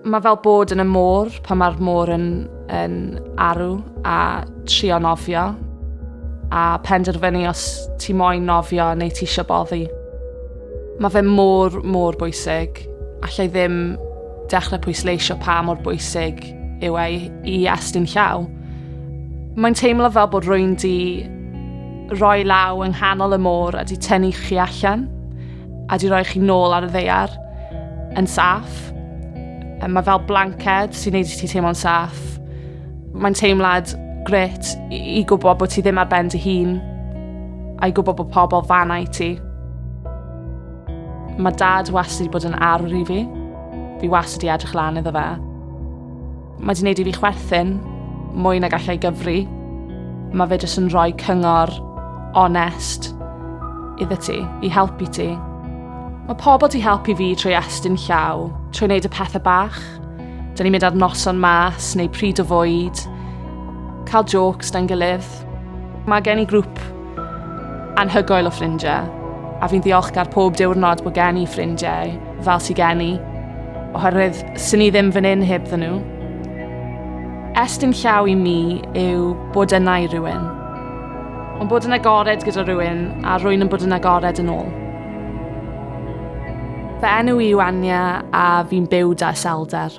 Mae fel bod yn y môr pan mae'r môr yn, yn arw a trio nofio a penderfynu os ti moyn nofio neu ti eisiau boddi. Mae fe môr, môr bwysig. Allai ddim dechrau pwysleisio pa mor bwysig yw ei i estyn llaw. Mae'n teimlo fel bod rwy'n di roi law yng nghanol y môr a di tynnu chi allan. a di roi chi nôl ar y ddeiar yn saff. Mae fel blanced sy'n neud i ti teimlo'n saff. Mae'n teimlad gret i gwybod bod ti ddim ar ben dy hun a'i gwybod bod pobl fanna i ti. Mae dad wastad wedi bod yn arwr i fi. Fi wastad wedi edrych lan iddo fe. Mae di wneud i fi chwerthin mwy na gallai gyfri. Mae fe jyst yn rhoi cyngor onest iddo ti, i helpu ti. Mae pobl di helpu fi trwy estyn llaw, trwy wneud y pethau bach. Dyna ni'n mynd ar noson mas neu pryd o fwyd, cael jokes da'n gilydd. Mae gen i grŵp Anhygoel o ffrindiau, a fi'n ddiolchgar pob diwrnod bod gen i ffrindiau fel sy gen i, oherwydd sy'n ni ddim fan hyn heb ddyn nhw. Estyn llaw i mi yw bod yna i rywun. Ond bod yn agored gyda rhywun a rwy'n yn bod yn agored yn ôl. Fy enw i yw Anya a fi'n byw da iselder.